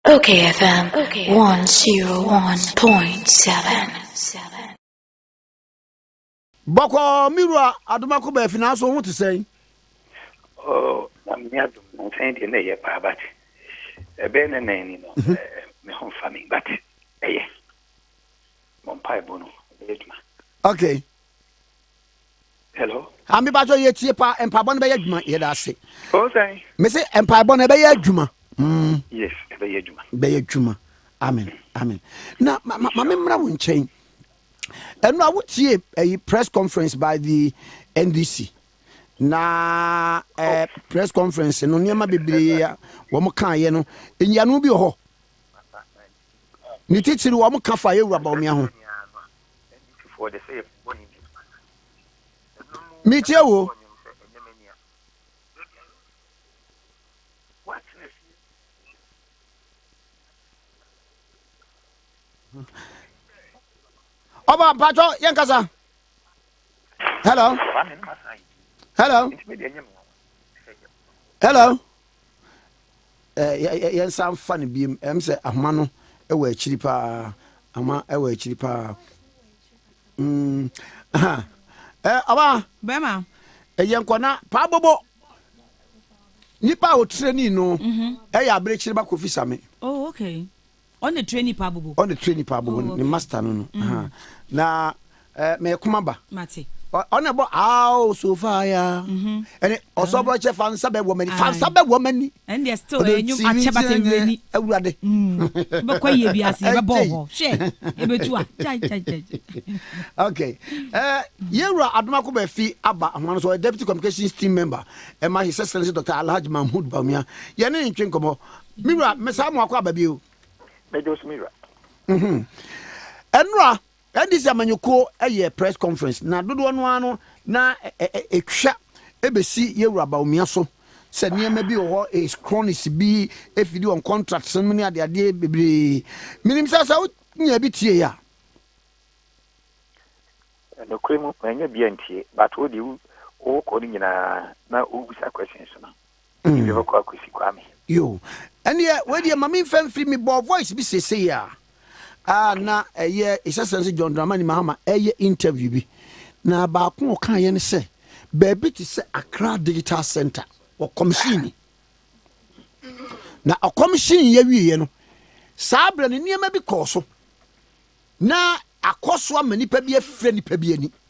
Okay FM 101.7 Bɔkɔɔ me wura Adomako Baafi nanso ho te sɛn? Oh, na me nya dom na sɛn deɛ na ɛyɛ paa but ɛbɛyɛ ne nan ni no mhm. eh, eh, me ho mfa me but ɛyɛ mɔ mpaebɔ no ɛbɛyɛ adwuma. Okay. Hello. Ah, me bajo ye tie pa mpaebɔ no bɛyɛ adwuma yɛda ase. Oh, sɛn. Me se mpaebɔ no ɛbɛyɛ adwuma. Mm. Yes, ɛbɛyɛ adwuma. Bɛyɛ adwuma. Amen. Mm. Amen. Na ma ma me mmra wo nkyɛn. Ɛno a wotie ɛyi press conference by the NDC. Na eh, oh. press conference no nneɛma bebree a wɔn kaeɛ no nyiano bi wɔ hɔ. Ne titiri wɔn ka fa yɛ wura baomia ho. Metie wo. Ọba mpatọ yẹn kasa. Hello. Hello. Hello. Ɛɛ, yɛnsan mfa no biom. Ɛm sɛ ahoma no wɔ akyiri paa. Ahoma wɔ akyiri paa. Mm, aha. Ɛɛ, ɔba. Bɛma. Ɛyɛ nkɔ na paa bobo. Nipa a wɔtirani no mhm. ɛyɛ aberekyereba Kofi Same. Oh, okay. Ɔne tre nipa abobo. Ɔne tre nipa abobo ne master no no ahaa na eh, me kuma ba. Mate. Ɔne bɔ aao so fire. Ɛne ɔsɔbrɔ kyɛ fa nsa bɛ wɔ mani fa nsa bɛ wɔ mani. Ɛne deɛ still ɛyɛ nyom akyɛ bata nwura ni. Awurade. Bɛkɔ yie bi ase yɛbɛbɔ hɔ hwɛ ɛbɛtu a kyɛ kyɛ kyɛ. Okay. Eh, yɛwura Adomako bɛ fi aba ahoma no so ɔyɛ deputy communications team member ɛma his excellency Dr. Alhaji Mahmood Bawumia yɛne ntwe nkɔmɔ Me wura, mesan mo akɔ aba bio. Meda so me wura. Mhm. Ɛnora, NDC amanyɔkuo yɛ press conference na dodoɔ no ara no na ɛtwa ɛbɛsi yɛwura Bawumia so sɛ nneɛma bi wɔ hɔ his cronies bi ɛfidi wɔn contracts no mu ne adeadeɛ bebree. Menim sɛ sɛ wonya bi tie a. Nokorɛ mu, manya bi antie but wo deɛ wokɔ no nyinaa na wobisa questions no. Ebi mm. bɛkɔ akosi kwame yo ɛneɛ wedeɛ ma memfa mfiri me bɔɔ voice bi sesei a a na ɛyɛ ɛsɛsɛ sɛ john dramani mahama ɛyɛ interview bi na baako ɔkaeɛ no sɛ baabi te sɛ accra digital center wɔkɔmhyini na ɔkɔmhyini yɛ wieɛ no saa berɛ no nneɛma bi kɔɔ so na akɔ so ama nipa bi afira nipa bi ani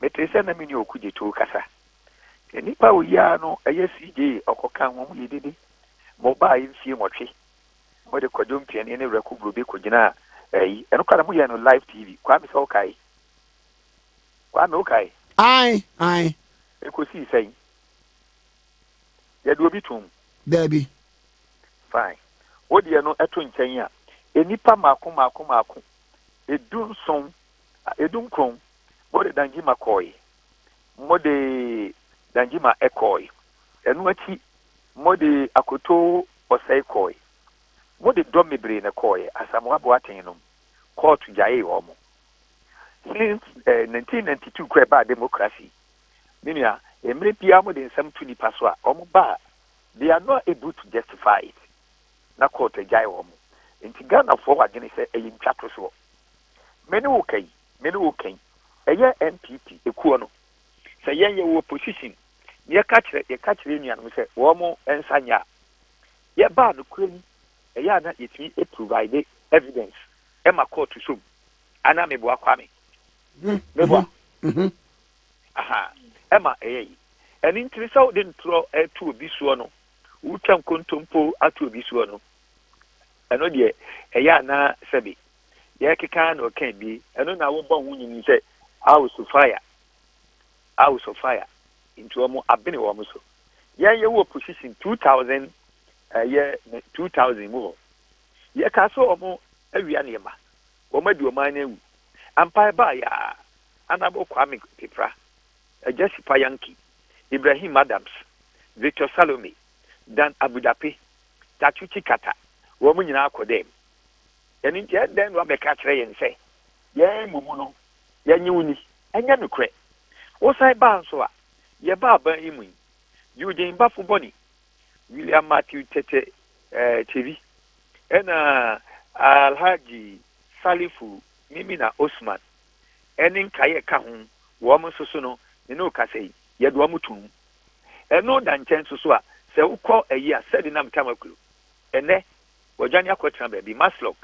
Metee sɛ na me ne Oku Jeto rekasa. Nnipa a oyiaa no yɛ CJ Ɔkɔka, wɔn mu yɛ dede ma ɔbaeɛ mfie nwɔtwe. Mode Kwadwo Mpiani ne Werɛko Brobe kɔgyinaa ayi. Ɛno koraa na moyɛɛ no live TV. Kwame sɛ wokae? Kwame wokae? Ae, ae. Ɛkɔsii sɛn? Yɛde obi toom? Daabi. Fine. Wo deɛ no to nkyɛn a, nnipa mmaako mmaako mmaako, du nson Edunkron, mode Danjima kɔe, mode Danjima kɔe, ɛno akyi mode Akoto Osei kɔe, mode dɔm bebree na ɛkɔeɛ, Asamoah Boateng nom, kɔɔto gyaee wɔn. Since 1992 kora ɛbaa democracy, me nua, mmerɛ biara mode nsɛm to nnipa so a, wɔn ba a, they are not able to justify it, na kɔɔto agyae wɔn. Nti Ghanafoɔ wɔ adwene sɛ ɛyɛ ntwatosoɔ. Me ne wo ka yi, me ne wo ka yi, ɛyɛ NPP ekuo no. Sɛ yɛn yɛwɔ opposition na yɛka kyerɛ yɛka kyerɛ yɛn nuanom sɛ wɔn nsa nyɛ a, yɛbaa nokorɛ mu, ɛyɛ a na yɛtumi provide evidence ma court so mu. Anaa meboa Kwame? Meboa? Aha, ɛma ɛyɛ yi. Ɛno nti no sɛ wode ntorɔ to obi soɔ no, wotwa nkontompo ato obi soɔ no, ɛno deɛ ɛyɛ a na sɛbe. yɛrekeka ara na ɔka bi, ɛno na wobɔ ho nyini sɛ house of fire, house of fire, nti wɔn abene wɔn so. Yɛn yɛwɔ opposition 2000 ɛyɛ 2000 mu hɔ, yɛka sɛ wɔn awia nneɛma, wɔn adi ɔman no awu. Ampae baa yɛ a, anabɔ Kwame Pepra, Agya Sipa Yankee, Ibrahim Adams, Victor Salome, Dan Abudape, Tatu Tsikata, wɔn nyinaa kɔ dɛm. Ɛno nti, ɛdɛn na woabɛka akyerɛ yɛn sɛ yɛn mmubu no, yɛnye wo nni? Ɛnyɛ nokorɛ. Wosan baa nso a, yɛbaa aban yi mu yi, Eugene Bafo Boni, William Matthew Tete Tsevi, ɛna Alhaji Salifu Mimina Osman, ɛne nkaeɛ ka ho, wɔn nso so no, me ne wo kasa yi, yɛde wɔn toom. Ɛno da nkyɛn nso so a, sɛ wokɔ ayi a, sɛdeɛ na metaa ma kuro, ɛnnɛ wɔadwane akɔtena baabi, Maslog,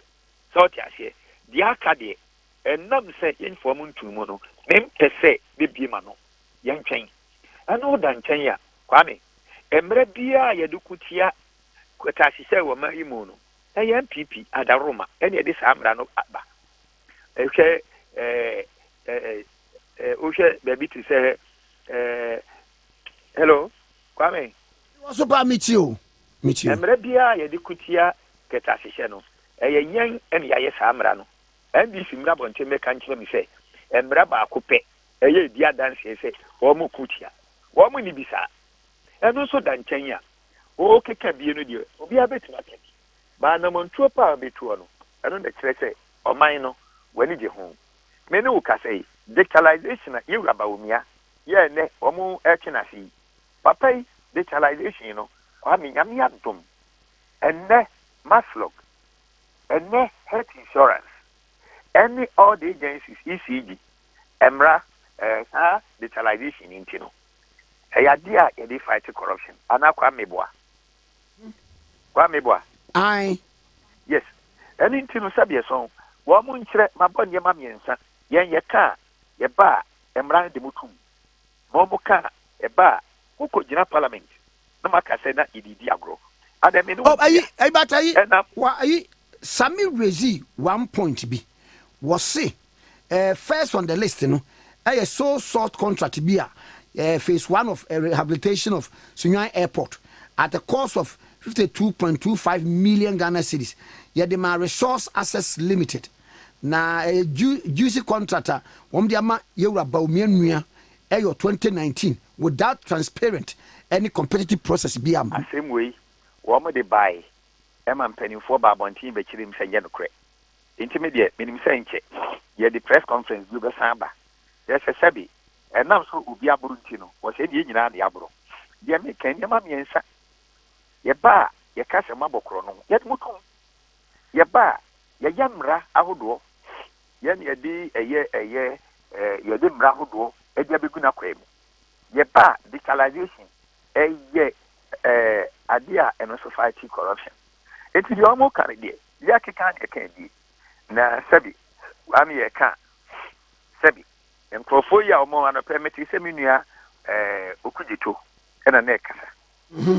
sɛ ɔte aseɛ. Deɛ aka deɛ, ɛnam sɛ yɛmfaa mu ntoo mu no, mempɛ sɛ mɛbie m'ano. Yɛntwɛn. Ɛno woda nkyɛn a, Kwame, mmerɛ biara a yɛde ko tia kataasisɛe wɔ man yi mu no, ɛyɛ NPP adaworoma na ɛde saa mmara no ba. Hwɛ ɛɛ, wohwɛ baabi te sɛ ɛɛ, hello, Kwame? Mewɔ so paa, metie o. Metie o. Mmara biara a yɛde ko tia kɛtɛasehyɛ no, ɛyɛ yɛn na yɛayɛ saa mmara no. NBC mmra abɔnten mmɛka nkyerɛ me sɛ mmara baako pɛ ɛyɛ edi adanseɛ sɛ wɔko tia. Wɔnni bi saa. Ɛno nso da nkyɛn a, wokeka bi no deɛ, obiara bɛtumi aka bi. But anammɔntuo paa a wobɛtuo no, ɛno na ɛkyerɛ sɛ ɔman no, w'ani gye ho. Me ne wo kasa yi, digitalization a Yewura Bawumia yɛɛ nnɛ, wɔretwe no ase yi, Papa yi digitalization no Kwame Nyame adom ɛnnɛ Maslog ɛnnɛ health insurance ɛne all the agencies ECG ɛmmra ɛɛ saa digitalization yi nti no ɛyɛ adeɛ a yɛde fight corruption anaa Kwame boa Kwame boa Ae. Yes ɛno nti no sɛdeɛ sɔn wɔn mo nkyerɛ mabɔ nneɛma mmiɛnsa yɛn yɛka a yɛba a ɛmmra no de mo tum. ma ɔmo ka a ɛba a mo kɔ gyina parliament na mo aka sɛ na yɛde redi agorɔ adɛn me ne wo ntua ɛna ayi Sami raise one point bi wɔ se eh, first on the list no ɛyɛ so salt contract bi a eh, phase one of eh, rehabilitation of Sunyani airport at the cost of 52.25 million Ghana cedis yɛde ma resource access limited Na ɛyɛ Ju Juicy contract a wɔn de ama Yawura Bawumia Nua ɛyɔ 2019 without transparent ɛne competitive process biara mu. Asɛm wei, wɔn de bae ma mpaninfoɔ baa abɔnten bɛkyerɛɛ mu sɛ ɛnyɛ nokorɛ. Nti me deɛ, menim sɛ nkyɛ yɛde press conference bio bɛsan aba. Kyerɛ sɛ, sɛbe ɛnam sɛ obi aboro nti no, wɔ sɛ ɛnneɛ yɛn nyinaa de aboro. Deɛ meka, nneɛma mmiɛnsa, yɛba a, yɛka sɛ moabɔ korɔno, yɛde mo tom. yɛba a, yɛyɛ mmara ahodoɔ. Yɛn na yɛde ɛyɛ ɛyɛ eh, yɛde mmara ahodoɔ ɛde abɛgu n'akwaa mu. Yɛba a, digitalization ɛyɛ eh, adeɛ a ɛno nso fight corruption. Nti deɛ wɔn ka no deɛ, yɛkeka deɛ ɛka die. Na sɛbi, wɔn yɛ ka sɛbi. Nkurɔfoɔ yi a wɔn anɔpɛ mete sɛ me nua eh, Okudzeto ɛna na ɛkasa. Mm-hmm.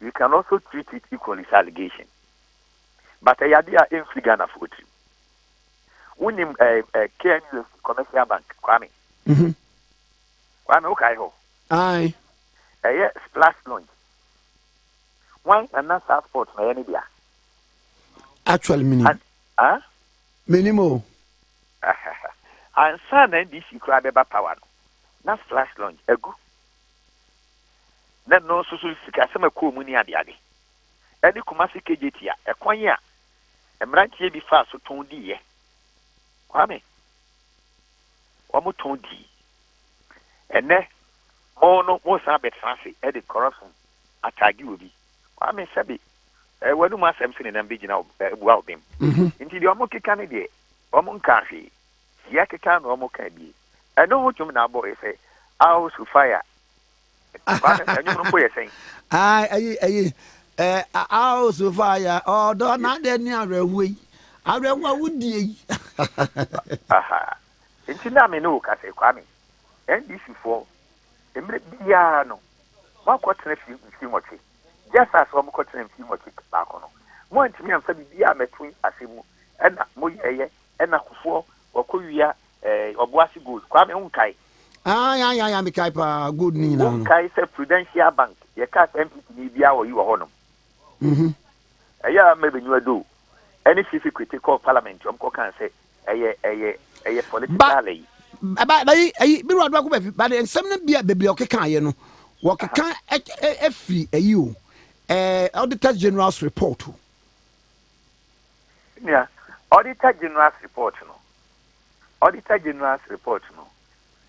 You can also treat it equally sɛ allegation but ɛyɛ adeɛ a ɛmfiri Ghanafoɔ tirim. Wonim KNUST Commercial Bank Kwame? Mhm. Kwame wokae hɔ? Aye. Ɛyɛ Splash Lounge. Wan ana saa sport na ɛyɛ ne dea? Actually menim. Ah? Menim o. Ansa na NDC koraa bɛba power no, na Splash Lounge agu Na ɛno nso so sikasɛm a ɛkɔɔ mu ne adeade ne Kumasi KJT a ɛkwan a mmeranteɛ bi faa so tɔn diiɛ. Kwame, Wɔtɔn dii. Ɛnnɛ mo no mosan abɛtena ase de corruption ataage obi. Kwame, Sɛbe w'anom asɛm so ne nam bɛgyina abua wo bem. Nti deɛ wɔkeka no deɛ wɔnkaa hwee. Siakeka na wɔkaa bie. Ɛno ho dwom na abɔ yɛ sɛ Aw Sofia. Kwaa no ɛnwom no mpo yɛ sɛn. Ae ɛyi ɛyi ɛɛ Aw Sofia ɔdɔ na adɛn ne awerɛhoɔ yi awerɛhoɔ a wodie yi. Aha nti na me ne wo ka sɛ Kwame NDC foɔ mmerɛ biara no moakɔ tena fie mfie nwɔtwe just as wɔn kɔ tena mfie nwɔtwe baako no moantumi amfa biribiara ammɛto asɛm mu ɛna moyɛɛyɛ ɛna kufoɔ wakɔ wia eh, Ɔboase Gold, Kwame wonkae? Ah, ya ya ya mekae paa, gold ne nyinaa no. Wonkae sɛ Prudential Bank, yɛka sɛ MPP ni biara wɔ yi wɔ hɔnom. Mhm. Ɛyɛ a mmerɛ bɛnyiwa do, ɛne Fifi Kwete kɔɔ parliament, wɔn kɔ kaa sɛ ɛyɛ ɛyɛ ɛyɛ political ɛyi. Ba, ba, ba, ɛyi, biriwa do akɔ bɛfi, ba de nsɛm no bia bɛbi a ɔkeka ayɛ no, wɔkeka ɛfiri ɛyi o, eh, Auditor General's report o. Nua, Auditor General's report no, Auditor General's report no,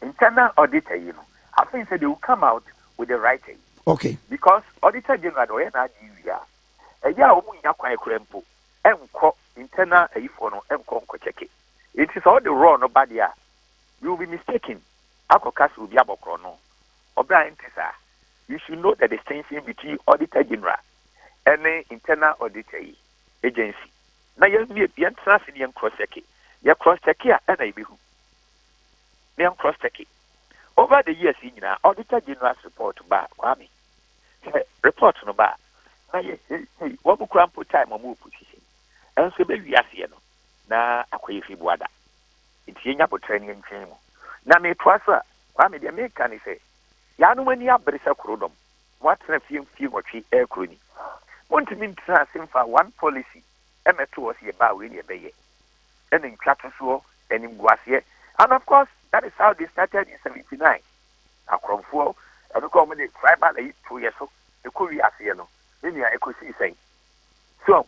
internal auditor yi no, I think say they will come out with the right thing. Okay. Because Auditor General de ɔyɛ n'adeɛ wie a, ɛyɛ a wɔn nya kwan kura mpo ɛnkɔ internal ayifoɔ no ɛnkɔ nkɔ kyɛke. Eti sɛ ɔde raw no ba deɛ a, you will be mistaken akɔka sɛ obi abɔ korɔno. Ɔbra ɛnte saa. You should know the distinction between Auditor General ne Internal Auditor yi, Agency, na yɛnwie, yɛntena ase na yɛn cross check. Yɛ cross check a ɛna yɛbɛhu. Na yɛn cross check. Over the years yi nyinaa, Auditor General's report ba a, Kwame, sɛ report no ba a, na yɛ hei hei, wɔn kura mpo time wɔn wɔ position. Ɛnso ɛbɛwie aseɛ no, na akɔ yɛ fi boada. Nti yɛnya botrɛ ne yɛntwɛn mu. Na metoa so a, Kwame, deɛ meka ne sɛ, yaanom ani abere sɛ korodɔm. Moatena fie mfie nwɔtwe ɛkoro ni. Montumi ntena ase mfa one policy mmɛto hɔ sɛ yɛbaa wei na yɛbɛyɛ. Ɛna ntwatosoɔ, animguaseɛ. And of course that is how they started in seventy nine. Akorɔmfoɔ ɛno koraa wɔn de tribal ayi too yɛn so ɛkɔ wiee aseɛ no, me nua ɛkɔsii sɛn? So ahu?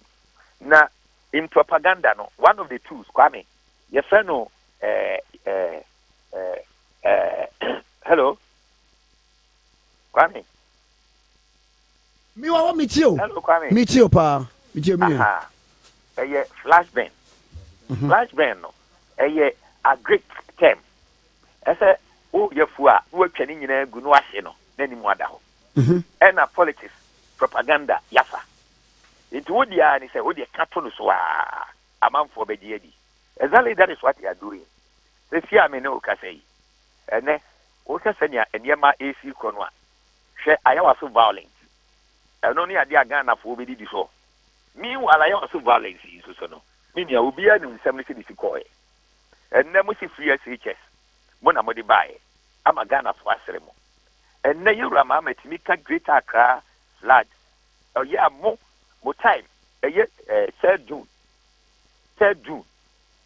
Na in propaganda no one of the tools Kwame yɛfrɛ no eh eh eh eh hello. Kwame. Mi wawa mi tie o. Hello Kwame. Mi tie o paa. Mi tie mi nua. Ɛyɛ flash burn. Mhm. Flash burn no ɛyɛ agric term. Ɛsɛ o yɛ fuo a na watwa ne nyinaa gu na wahye no na ne mu ada hɔ. Mhm. Ɛna politics propaganda yafa. Nti wo deɛ a ne sɛ wo deɛ ka to no so a amanfoɔ bɛgye adi. Exactly that is what they are doing. Sɛsi a me ne wo kasa yi ɛnɛ Wohwɛ sɛnea nneɛma resi rekɔ no a, hwɛ ayawaso violence. Ɛno ne ade a Ghanafoɔ bɛdidi so. Meanwhile, ayawaso violence yi nso so no, me nua, obiara nim nsɛm no sɛdeɛ ɛsi kɔeɛ. Ɛnnɛ mose free SHS, mo na mode baeɛ, ama Ghanafoɔ asere mo. Ɛnnɛ Yɛn Wura Mahama tumi ka Greater Accra flood, ɔyɛ a mo, mo time, ɛyɛ eh, third June, third June,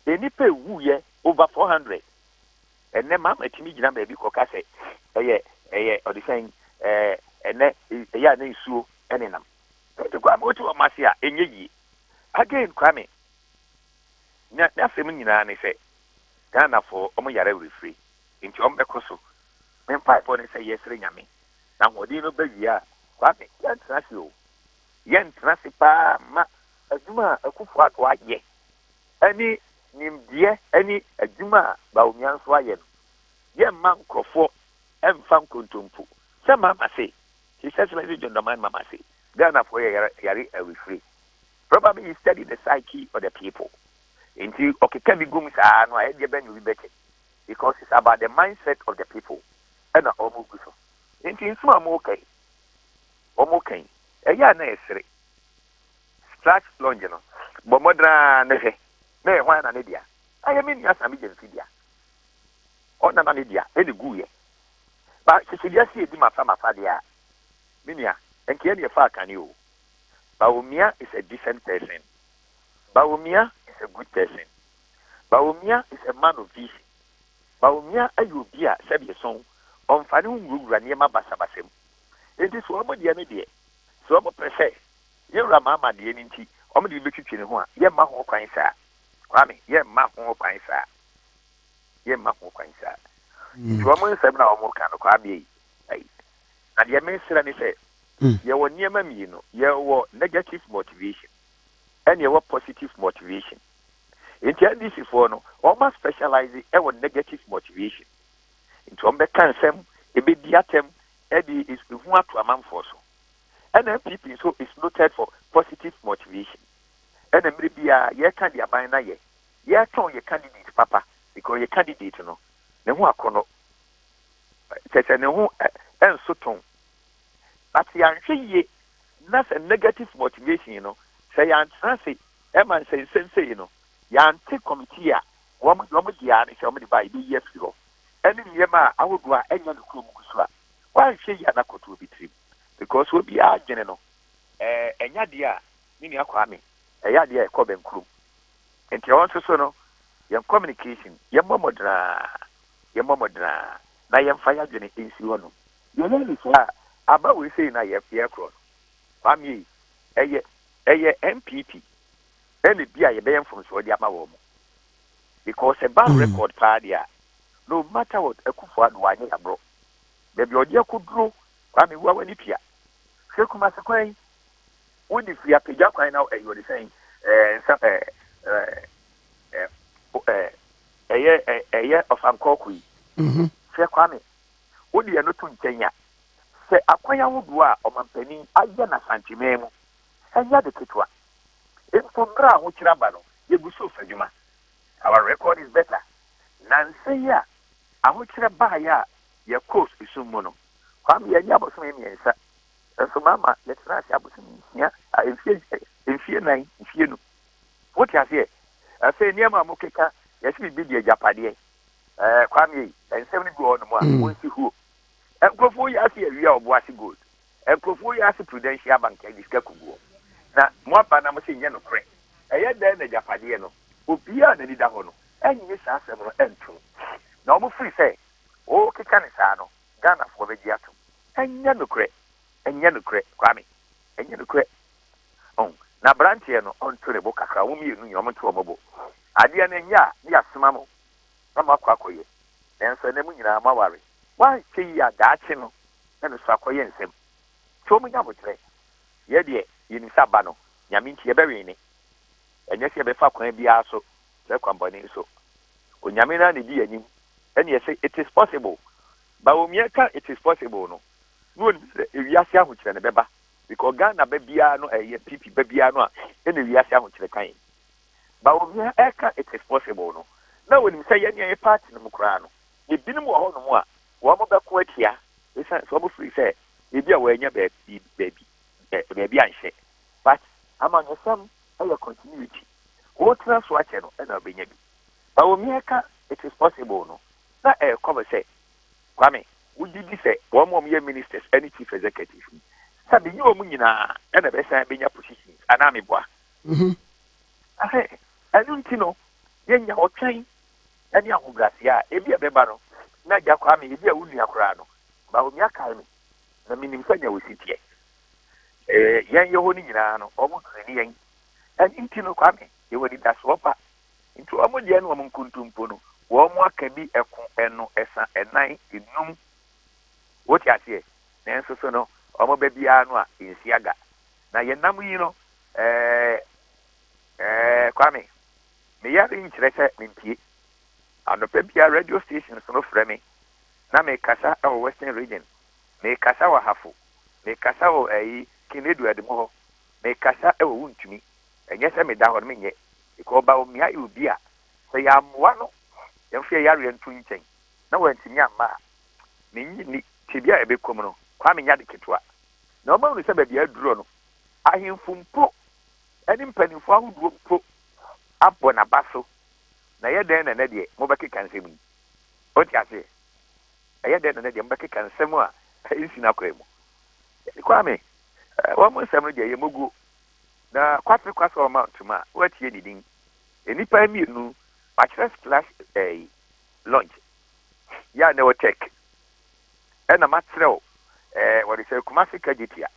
nnipa ɛwuiɛ over 400. Ɛnnɛ mmaa matumi gyina baabi kɔka sɛ ɛyɛ ɛyɛ ɔde sɛn ɛɛ ɛnɛ ɛyɛ a na nsuo ɛne nam. Ɛnti Kwame wote wɔn ase a ɛnyɛ yie. Again Kwame na n'asɛm nyinaa ne sɛ Ghanafoɔ wɔn yare awerɛfire nti wɔn bɛkɔ so. Me mpaebɔ ne sɛ yɛsrɛ Nyame na ahoɔden no ba wie a Kwame yɛntena ase o. Yɛntena ase paa ma adwuma a Akuffo Addo ayɛ. ne nimdeɛ ne adwuma a Bawumia nso ayɛ no, yɛmma nkurɔfoɔ mfa nkontompo. Sɛ Mahama se, His Excellency John Dramani Mahama se, Ghanafoɔ yɛ yare awifire. Probably he studied the psyche of the people nti ɔkeka bi gu mu saa no a ɛdeɛ bɛn na obi bɛkyɛ because it's about the mindset of the people ɛna wɔn gu so. Nti nsɛm a wɔka yi, wɔka yi, ɛyɛ a na yɛsere. Scratch Lounge no, bɔ mmɔden ara na hwɛ na ɛyɛ hwan na ne dea. Ɛyɛ me nua Sammy James dea. Ɔna na ne dea ɛne guiɛ. Ba hyehye wiase edi mafa mafa deɛ a, me nua, ɛnkeɛ ne ɛfa akane o. Bawumia is a decent person. Bawumia is a good person. Bawumia is a man of vision. Bawumia ɛyɛ obi a sɛdeɛ sɔn, ɔnfa ne ho nwurawura nneɛma basabasa mu. Enti sɛ wɔn deɛ no deɛ, sɛ wɔpɛ sɛ yɛn wura ma amaneɛ no nti wɔde no bɛtwitwi ne ho a, yɛmma ho kwan saa. Kwame, yɛmma ho kwan saa. Yɛmma ho kwan saa. Nti wɔn nsɛm na wɔn ka no, Kwame ei, ei. Na deɛ mesrɛ ne sɛ, yɛwɔ nneɛma mmienu, yɛwɔ negative motivation ɛne yɛwɔ positive motivation. Nti NDC foɔ no, wɔn a specialize wɔ negative motivation. nti wɔbɛka nsɛm, ɛbɛdi atɛm de ehu ato amanfoɔ so. NNPP nso is noted for positive motivation. Ɛna mmerɛ biara yɛka de aban na yɛ yɛtɔn yɛ candidate papa because yɛ candidate no ne ho akɔnɔ kyɛ sɛ ne ho ɛnso tɔn but yɛanhwɛ yie na sɛ negative motivation no sɛ yɛantena se ɛma nsɛnsɛm sei no yɛante committee a wɔn deɛ wɔn deɛ ara ne sɛ wɔn de ba a yɛbɛyi afiri hɔ ɛne nneɛma a ahodoɔ a ɛnyɛ nokorɛ mu gu so a wɔanhwɛ yie a na kɔtoɔ bi tirim because obiara adwene no ɛɛ ɛnyɛ adeɛ a me nua Kwame ɛyɛ adeɛ a ɛkɔ bɛn kurom nti ɛwɔ nso so no yɛn communication yɛn mmɔ mmɔdenaa yɛn mmɔ mmɔdenaa na yɛn fa yɛadwene nsi hɔ nom yɛyɛ ne saa aba wei sei na yɛ yɛkorɔ no Kwame ɛyɛ ɛyɛ NPP ɛna bi a yɛbɛyɛ mfomsoɔ de ama wɔn mo because ɛba mm. record paa deɛ a no matter what akufo ado anyɛ yaborɔ baabi ɔde akɔduro kwa mewua w'ani pia hwɛ kumase kwan yi wode firi apagya kwan na ɛyɛ ɔde sɛn nsa ɛyɛ ɛyɛ ɔfankɔɔko yi mhm. hwɛ kwame wode ɛno to nkyɛn a sɛ akwan ahodoɔ a ɔmampanin ayɛ na santemaa mu ɛnyɛ ade ketewa. Mpo bere a ahokyere aba no, yegu so resa adwuma. Our record is better. Nnansa yi a ahokyere bae a yɛkɔɔ esum mu no, Kwame, yɛannye abosome mmiɛnsa, nanso mama yɛtena ase abosome nsia, ah, mfe, mfe nnan, mfe anum. Wote aseɛ? Afei nneɛma a mokeka, yɛse biribi di agyapadeɛ. Eh, Kwame, nsɛm no bi wɔ hɔnom a, wonsi huo. Nkurɔfoɔ yi ase awia ɔbo ase gold. Nkurɔfoɔ yi ase prudential bank ɛde sika kugu hɔ na mo aba na mo se nyɛ nokorɛ ɛyɛ dɛn na agyapadeɛ no obiara a nani da hɔ no ɛnye saa asɛm no ɛnto mu na wɔn firi sɛ wo keka no saa no Ghanafoɔ bɛgye atom ɛnyɛ nokorɛ ɛnyɛ nokorɛ Kwame ɛnyɛ nokorɛ oh na abranteɛ no ɔnto ne bo kakra wɔn mmienu nyina wɔn nto wɔn bo adeɛ no ɛnyɛ a ne yɛ asoma mo na moakɔ akɔyɛ, nanso ɛnnɛ mo nyinaa moaware. Moanhwɛ yie a daakye no na no so akɔyɛ nsɛm. So monya aboterɛ? Yɛ deɛ yɛnim sɛ aba no Nyame nti yɛbɛwɛn ne. Ɛnyɛ sɛ yɛbɛfa kwan biara so sɛ kwammɔne so. Onyame no ara na ɛdi yɛn anim ɛne yɛse it is possible. But omiɛ ka it is possible no, na ɔnim sɛ ewiase ahokyerɛ no bɛba because Ghana ba biara no ɛyɛ PP ba biara no a ɛna ewiase ahokyerɛ ka yɛn. ma obi ɛka it is possible no na wonim sɛ yɛnea yɛ party no mu koraa no ebinom wɔ hɔ nom a wɔn bɛko atia esiane sɛ wɔn firi sɛ ebi a wɔn anya baabi baabi baabi anhyɛ but amanyɔsɛm ɛyɛ continuity wotena so akyɛ no ɛna ɔbɛnya bi ma omi ɛka it is possible no na ɛkɔ bɛ sɛ kwame wogye di sɛ wɔn wɔn yɛ ministers ɛne chief executive sɛ menye wɔn nyinaa ɛna bɛsan bɛnya positions anaa meboa ho. Ahe, ɛno nti no, yɛnya ɔtwɛn ne ahobrɛaseɛ a ebia ɛbɛba no, na Agya Kwame, ebia wo nua koraa no, ma onua kae me, na menim sɛnea wosi teɛ. Ee, yɛn yɛ hɔ no nyinaa no, wɔtrɛni yɛn. Ɛno nti no, Kwame, yɛwɔ anidasoɔ pa. Nti wɔn deɛ no, wɔn nkontompo no, wɔaka bi ɛko, ɛno, ɛsa, ɛnan, ɛnum. Wote aseɛ? Nanso so no, wɔba biara no a, ɛnsi aga. Na yɛnam yi no, Ɛɛ ɛɛ Kwame, me yare yi nkyerɛ sɛ mentie. Anɔpa biara radio stations no frɛ me na mekasa wɔ Western Region, mekasa wɔ Ahafo, mekasa wɔ ɛyi King Edward mu hɔ, mekasa wɔ Wontumi. Ɛnyɛ sɛ meda hɔ no menyɛ, because Bawumia yɛ obi a sɛ yɛammoa no yɛmfa yɛn yareɛ nto nkyɛn na wantumi amma a, mennye nni. Tebea a yɛbɛkɔ mu no, Kwame nyɛ ade ketewa. Na wɔahunu sɛ baabi a adurɔ no, Ahemfo mpo ne mpanyimfo ahodoɔ mpo abɔ n'aba so, na ɛyɛ dɛn na ɛnnɛ deɛ mobɛkeka nsɛm yi? Wote aseɛ? Ɛyɛ dɛn na ɛnnɛ deɛ mobɛkeka nsɛm a ɛnsi n'akwan mu? Daddy Kwame, wɔn nsɛm no deɛ ɛyɛ moguo, na Kwatse Kwasor Mount ma woatie ne din. Nnipa mmienu, makyerɛ Splash ɛyi, Lodge, yɛ a na ɛwɔ Czech, ɛna makyerɛ wo, wɔde sɛ Kumasi Kagyepia.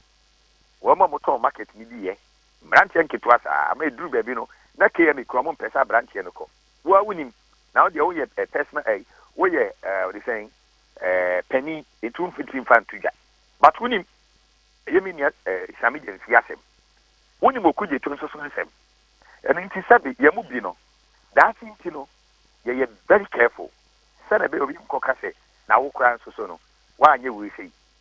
Wɔn a wɔtɔn market no bi yɛ mmeranteɛ nketewa saa ama ɛduru baabi no na KMA kura wɔn mpɛ sɛ aberanteɛ no kɔ. Wo ara wonim. Na wo deɛ woyɛ eh, personal eh, woyɛ eh, wɔde sɛn eh, panin enti womfitiri mfa nto dwa. But wonim, ɛyɛ me nua eh, Sami Gyamfie asɛm. Wonim Okudzeto nso so nsɛm. Ɛno nti sɛbe yɛn mu bi no, daakye nti no yɛyɛ very careful sɛdeɛ ɛbɛyɛ obi nkɔka sɛ na wo koraa nso so no woanyɛ wei sei.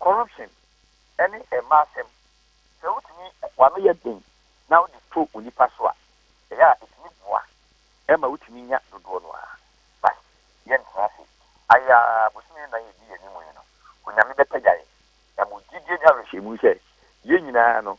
Corruption ne mmaa asɛm, sɛ wotumi w'ano yɛ den na wode to onipa so a, ɛyɛ a ɛtumi boa ma wotumi nya dodoɔ no ara. But yɛntra ase ayɛ ara, bosome nnan a ɛdi yɛn anim yi no, Onyame bɛpagya yɛn. Na mewɔ gyidie ne awerɛhyɛmu sɛ yɛn nyinaa no,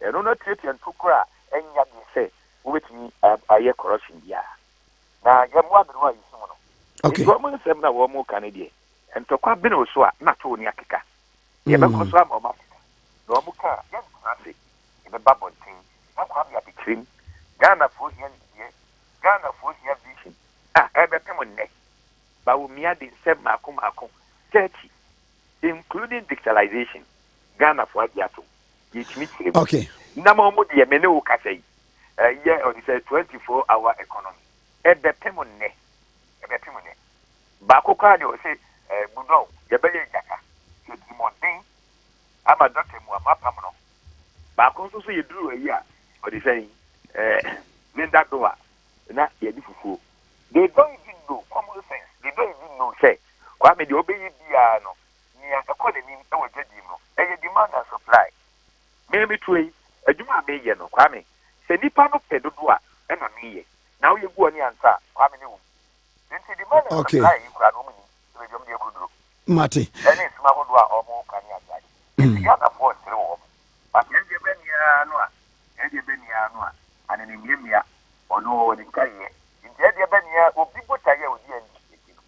Ɛno na tuatua ntokuru a ɛnyɛ den sɛ wobetumi ayɛ corruption biara. Na yɛn mmoa bere a yesum no. Enti wɔn nsɛm na wɔka no deɛ, ntɔkwa bene wo so a na tow ne akeka. Yɛbɛkɔ so ama wɔn atete. Na wɔka a, yɛrentra ase. Yɛbɛba abɔnten. Na Kwame Adekyerem, Ghanafoɔ hia nimdeɛ, Ghanafoɔ hia vision a ɛrebɛpem nnɛ. Bawumia de nsɛm mmaako mmaako, 30. including dictalization Ghana foɔ agye atom yɛtumi kyerɛ mu okay. na ma ɔmo deɛ me ne wo kasa yi ɛyɛ ɔde sɛ 24 hour economy ɛbɛpem nnɛ ɛbɛpem nnɛ baako koraa deɛ ɔsɛ ɛɛ budɔw yɛbɛyɛ agyata sɛ trimɔden ama dɔkta mu ama apam no baako nso so yɛduru ayi a ɔde sɛ ɛɛ linda doa na yɛadi fufuo. They don't even know, common sense, they don't even know sɛ Kwame deɛ ɔbɛyɛ biara no, nea ɛkɔ n'anim wɔ dwadie mu no, ɛyɛ demand and supply. Me meteɛ yi, adwuma a meyɛ no, Kwame, sɛ nnipa no pɛ dodo a, ɛna meyɛ. Na woyɛ gu ɔne ansa a, Kwame ne wo mu. Enti demand and Okay. supply yi koraa no, wɔn nnim, ɛbɛdwa wɔn de akuduro Mate. ɛne sum ahodoɔ a wɔka ne adeade. Enti Ghanafoɔ resere wɔn. But yɛn deɛ, bɛn biara no a, Ɛdeɛ bɛ ni ara no a ane ne mmeammea ɔno ɔwɔ ne ntaeɛ nti ɛdeɛ bɛ ni ara obi botaeɛ a ɔdi ani gye nti no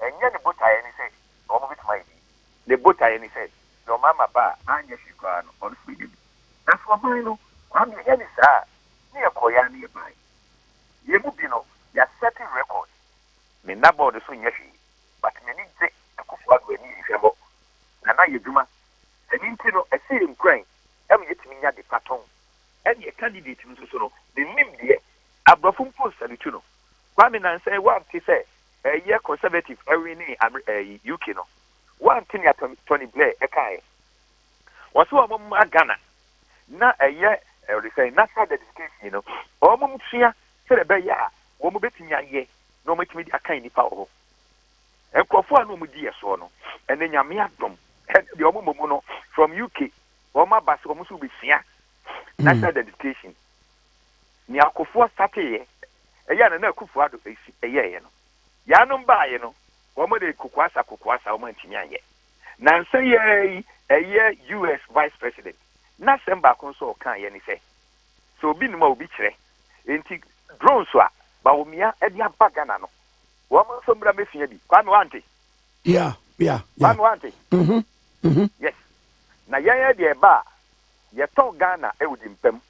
ɛnyɛ ne botaeɛ ne sɛ wɔn bɛtumi ayɛ biribi ne botaeɛ ne sɛ deɛ wɔn ama ba a anyɛ hwee koraa no ɔno nso bɛnya bi nanso ɔman no Kwame ɛnyɛ ne saa a ne yɛkɔeɛ ara ne yɛbaeɛ yɛn mu bi no yɛasɛte record me nna board so nyɛ hwee but m'ani gye Akufo-Addo ani nhwɛmmɔ na na yɛ dwuma ɛno nti no ɛhyɛ yɛn nkuran ɛma yɛtumi nya ade pa tɔn. Ɛnneɛ candidate no nso so no, mennim deɛ aborɔfo mpo nsalute no. Kwame Nansah woante sɛ ɛyɛ conservative ɛwenee Amer ɛyi UK no? Woante nea Tony Tony Blair ɛkaeɛ? Wɔse wɔn mma Ghana na ɛyɛ ɛde sɛn national dedication no wɔn sua sɛdeɛ ɛbɛyɛ a wɔn bɛtumi ayɛ na wɔn atumi de akan nnipa wɔ hɔ. Nkurɔfoɔ a na wɔn di yɛ soɔ no, ɛnɛ Nyame adom, ɛnɛ deɛ wɔn mmom no from UK wɔn aba sɛ wɔn nso bɛsua national identification. Nea Akufoɔ startee yɛ, ɛyɛ a Nana Akufo Addo ɛyɛɛyɛ no, yaanom baaeɛ no wɔn de kokoasa kokoasa wɔn antumi anyɛ. Nansa yi ara yi ɛyɛ US vice president n'asɛm baako nso a ɔkaeɛ ne sɛ, sɛ obi nim a obi kyerɛ. Enti drones a Bawumia de aba Ghana no, Wɔn nso mmra mmesua bi. Kwame, woante? Yeah, yeah, yeah. Kwame, woante? Mhm, mhm. Yes. Na yɛn ara deɛ ɛba a, yɛtɔn Ghana wɔ di mpa mu.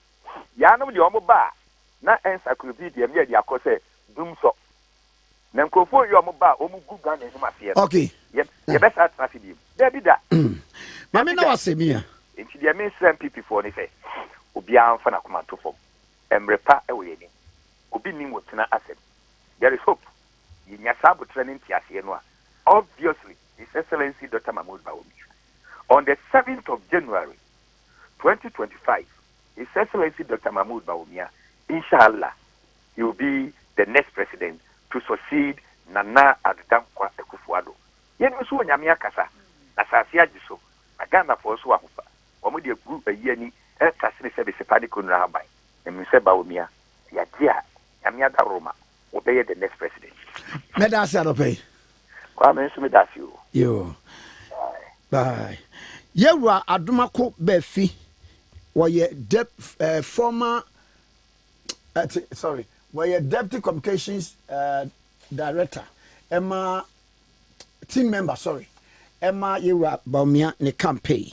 Yɛanom deɛ wɔn ba a, na encyclopedia mu yɛ de akɔ sɛ dumsɔ. Na nkurɔfoɔ yi a wɔn ba a, wɔn gu Ghana anim aseɛ no, Okay. yɛ, Eh. yɛbɛsan atena ase bio. Dabi da. Mm. Maame Dabi na da. wase mia. Enti deɛ mesrɛ NPP foɔ ne sɛ, obiara mfa n'akoma nto fam. Mmere pa wɔ yɛn anim. Obi nnim wo tena asɛm. There is hope yenya saa aboterɛ ne nteaseɛ no a obviously His Excellency Doctor Mahmoud Bawumia on the seventh of January twenty twenty five His Excellency Doctor Mahmoud Bawumia inshallah he will be the next president to succeed Nana Addo Dankwa Akufo Addo yɛnim nso Onyame akasa na asaase agye so na Ghanafoɔ nso ahofa wɔn de agu ayi ani ɛɛkase ne sɛ Besepa ne Konra Haban na menim sɛ Bawumia yagye a Nyame adaworoma wɔbɛyɛ the next president. Mɛda ase anɔpɛ yi. Kwa me nso meda ase o. Yo. Bye. Yɛwura Adomako Bɛfi wɔyɛ dep eh, former eh, sorry wɔyɛ deputy communications eh, director ɛma team member sorry ɛma yɛwura Bawumia ne campaign